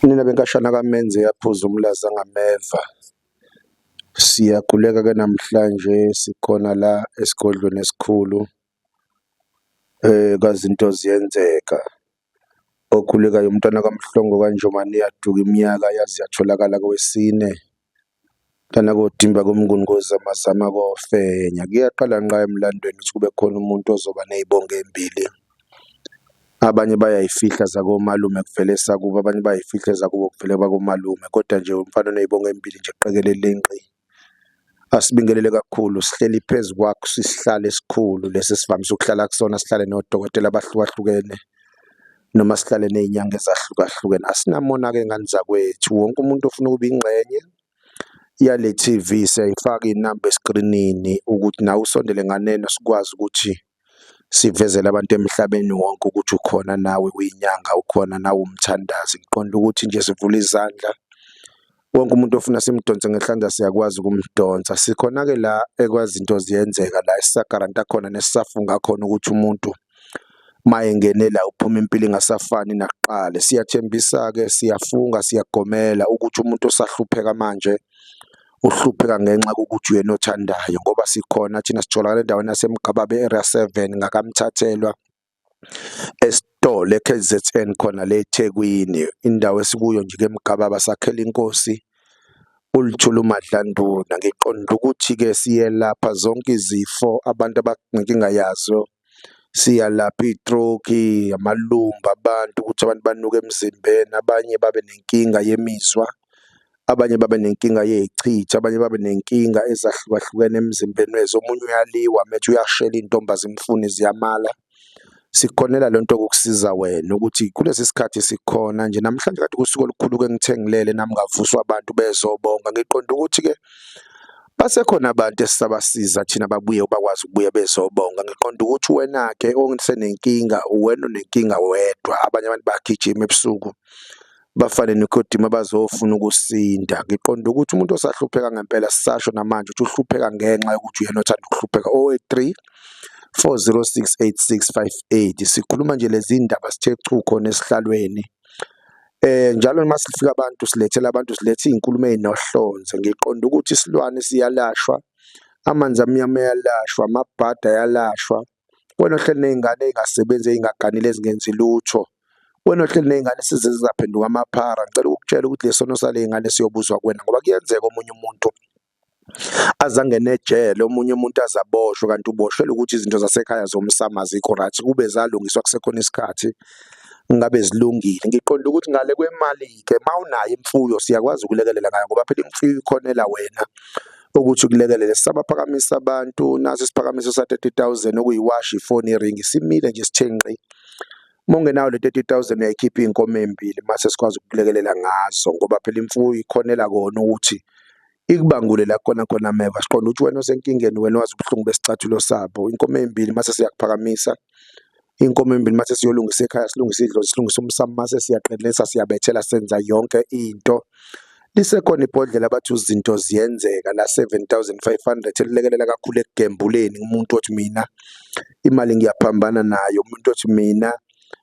Nina benkashana kamenze yaphuza umlaza ngameva. Siyaquleka ke namhlanje sikhona la esigodlweni esikhulu eh kazinto ziyenzeka. Okhulekayo umntwana kaMhlongo kaNjomane yaduka iminyaka yaze yatholakala kowesine. Lana kodimba komnguni kozama zama kofenya kuyaqala nqa emlandweni ukuthi kube khona umuntu ozoba nezibongo ezimbili. Abanye bayayifihla zakomalume kuvele esakubo, abanye bayayifihla ezakubo kuvele kwakomalume kodwa nje umfana onezibongo ezimbili nje qekelele nqi. Asibingelele kakhulu sihleli phezu kwakho isihlalo esikhulu lesi esivamise ukuhlala kusona sihlale nodokotela abahlukahlukene. noma sihlale nezinyanga ezahlukahlukene asinamona ke ngani zakwethu wonke umuntu ofuna ukuba ingxenye yale TV siyayifaka inamba eskrinini ukuthi nawe usondele nganeno sikwazi ukuthi sivezele abantu emhlabeni wonke ukuthi ukhona nawe uyinyanga ukhona nawe umthandazi ngiqonda ukuthi nje sivula izandla wonke umuntu ofuna simdonse ngehlanza siyakwazi ukumdonsa sikhona-ke la ekwazinto ziyenzeka la esisagaranta khona nesisafunga khona ukuthi umuntu mayengenela uphuma impilo ingasafani nakuqala siyathembisa-ke siyafunga siyagomela ukuthi umuntu osahlupheka manje uhlupheka ngenxa kokuthi uyena othandayo ngoba sikhona thina sitholakala endaweni yasemgababe area seven ngakamthathelwa Esitolo e-K_Z_N khona le eThekwini indawo esikuyo nje ke Mgababa sakhela inkosi uLuthuli uMadlanduna, ngiqonde ukuthi-ke siyelapha zonke izifo abantu abanenkinga yazo, siyalapha iy'troki, amalumba abantu ukuthi abantu banuke emzimbeni, abanye babe nenkinga yemizwa, Abanye babe nenkinga yechithi, abanye babe nenkinga ezahlukahlukene emzimbeni wezi, omunye uyaliwa methi uyashela iy'ntombi azimfuni ziyamala. Sikukhonela le nto ukukusiza wena ukuthi kulesi sikhathi sikhona nje namhlanje kade kusuku olukhulu-ke engithe ngilele nami ngavuswa abantu bezobonga, ngiqonde ukuthi-ke basekhona abantu esisabasiza thina babuye bakwazi ukubuya bezobonga. Ngiqonde ukuthi wena-ke osenenkinga uwena onenkinga wedwa, abanye abantu bayagijima ebusuku bafane nikodima bazofuna ukusinda ngiqonda ukuthi umuntu osahlupheka ngempela sisasho namanje ukuthi uhlupheka ngenxa yokuthi uyena othanda ukuhlupheka o-3 4068658 sikhuluma nje lezi ndaba sithe chu khona esihlalweni eh njalo uma sifika abantu silethela abantu silethe izinkulumo ezinohlonze ngiqonda ukuthi isilwane siyalashwa amanzi amnyama yalashwa amabhada yalashwa Wena ohleli nezingane ezingasebenzi ezingaganile ezingenzi lutho. Wena ohleli nezingane esize zizaphenduka amaphara. Ngicela ukukutshela ukuthi lesono salezingane siyobuzwa kuwena ngoba kuyenzeka omunye umuntu azangene ejele omunye umuntu azaboshwe kanti uboshelwe ukuthi izinto zasekhaya zomsama azikho right kube zalungiswa kusekhona isikhathi ngabe zilungile ngiqonda ukuthi ngale kwemali-ke uma unayo imfuyo siyakwazi ukulekelela ngayo ngoba phela imfuyo ikhonela wena ukuthi kulekelele sabaphakamisa abantu naso isiphakamiso sa 30000 okuyiwashi ifoni iringi simile nje sithe nqi uma ungenayo le 30000 uyayikhipha iy'nkomo ey'mbili mase sikwazi ukukulekelela ngazo ngoba phela imfuyo ikhonela kona ukuthi ikubangule la khona khona meva siqonda ukuthi wena osenkingeni wena wazi ubuhlungu besicathulo sabo inkomo ey'mbili mase siyakuphakamisa iy'nkomo ezimbili mase siyolungisa ekhaya silungisa idlozi silungisa umsamo mase siyaqinisa siyabethela senza yonke into lisekhona ibhodlela bathi izinto ziyenzeka la 7500 elilekelela kakhulu ekugembuleni umuntu othi mina imali ngiyaphambana nayo umuntu othi mina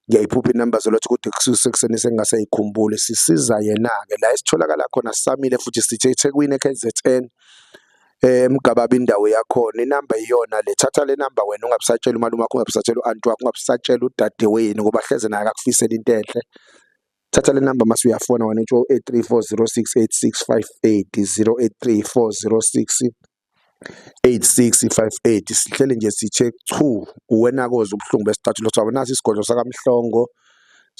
ngiyayiphupha inamba zolothi kude kusekuseni sengasayikhumbuli sisiza yena-ke la esitholakala khona samile futhi sithe ethekwini e-kzn eh, emgababa indawo yakhona inamba iyona le thatha le namba wena ungabusatshela umalume wakho ungabusatshela uanti wakho ungabusatshela udadewenu ngoba hleze naye akakufisela into enhle thatha le namba mase uyafona wena utsho 0834068658 083406 8658 sihlele nje sithe chu uwena koze ubuhlungu besicathulo sabo nasi isigodlo sakamhlongo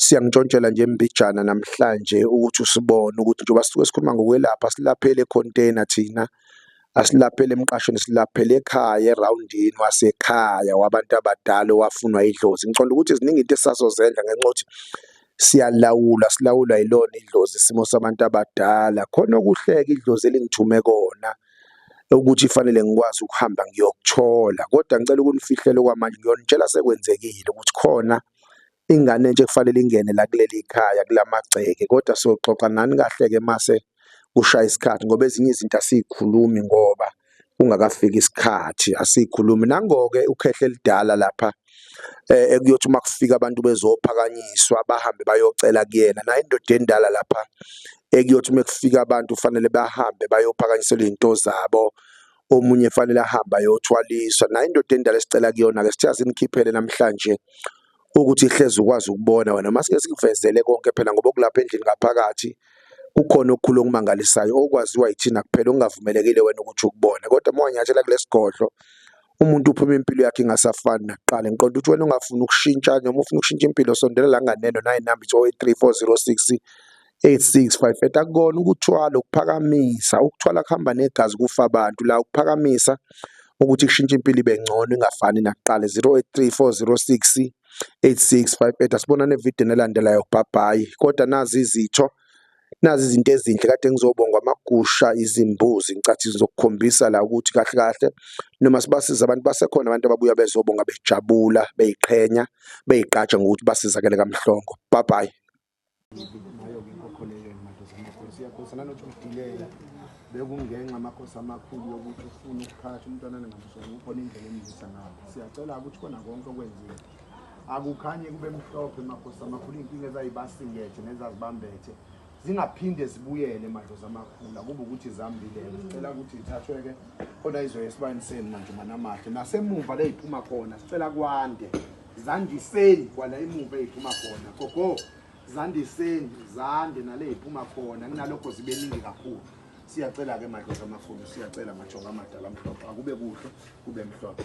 Siyangishontshela nje mbijana namhlanje ukuthi usibone ukuthi njengoba sisuke sikhuluma ngokwelapha silaphele econtainer thina asilaphele emqashweni silaphele ekhaya erawundini wasekhaya wabantu abadala owafunwa idlozi ngiconda ukuthi ziningi into esisazozenza ngenxa ukuthi siyalawula silawula yilona idlozi isimo sabantu abadala khona okuhleka idlozi elingithume kona ukuthi fanele ngikwazi ukuhamba ngiyokuthola kodwa ngicela ukunifihlela okwamanje ngiyonitshela sekwenzekile ukuthi khona ingane entsha ekufanele ingene la kuleli khaya kulamagceke kodwa soxoxa nani kahle-ke mase kushaya isikhathi ngoba ezinye izinto asiyikhulumi ngoba kungakafiki isikhathi asiyikhulumi nangoke ukhehle elidala lapha eh, ekuyothi uma kufika abantu bezophakanyiswa bahambe bayocela kuyena naye indoda endala lapha ekuyothi uma kufika abantu kufanele bahambe bayophakanyiselwa izinto zabo omunye efanele ahambe ayothwaliswa nayo indoda endala esicela kuyona-ke sithe asimkhiphele namhlanje ukuthi ihlezi ukwazi ukubona wena uma sike sikuvezele konke phela ngoba okulapha endlini ngaphakathi kukhona okukhulu okumangalisayo okwaziwa yithina kuphela okungavumelekile wena ukuthi ukubone kodwa uma wanyathela kulesi godlo umuntu uphuma impilo yakhe ingasafani nakuqala ngiqonda ukuthi wena ungafuni ukushintsha noma ufuna ukushintsha impilo sondela la nganeno nayi namba ithi 083 406 86 fayifeta akukona ukuthwala ukuphakamisa ukuthwala kuhamba negazi kufa abantu la ukuphakamisa ukuthi kushintshe impilo ibe ngcono ingafani nakuqala 083406 8658 asibona nevideo nelandelayo kubhabhayi kodwa nazi izitho nazi izinto ezinhle kade ngizobongwa amagusha izimbuzi ngicathi zizokukhombisa la ukuthi kahle kahle noma sibasiza abantu basekhona abantu ababuya bezobonga bejabula beyiqhenya beyigqaja ngokuthi basizakele kamhlongo bye bye ngayo-ke inkokholelo emakhosi amakhulu siyakhosa nanothi udilela bekungenxa amakhosi amakhulu yokuthi ufuna ukuphakathi umntwana ningamsona ukhona indlela emlisa ngayo siyacela-ke ukuthi kona konke okwenziwe akukhanye kube mhlophe emakhosi amakhulu iy'nkinga ezayibasingethe nezazibambethe zingaphinde zibuyele madlozi amakhulu akuba ukuthi zambilele sicela ukuthi ithathwe-ke khona izoya esibayeni senu manje manamahle nasemuva leyiphuma khona sicela kwande zandiseni kwala emuva eyiphuma khona gogo zandiseni zande nale yiphuma khona kunalokho zibe ningi kakhulu siyacela-ke madlozi amakhulu siyacela majonga amadala mhlophe akube kuhle kube mhlophe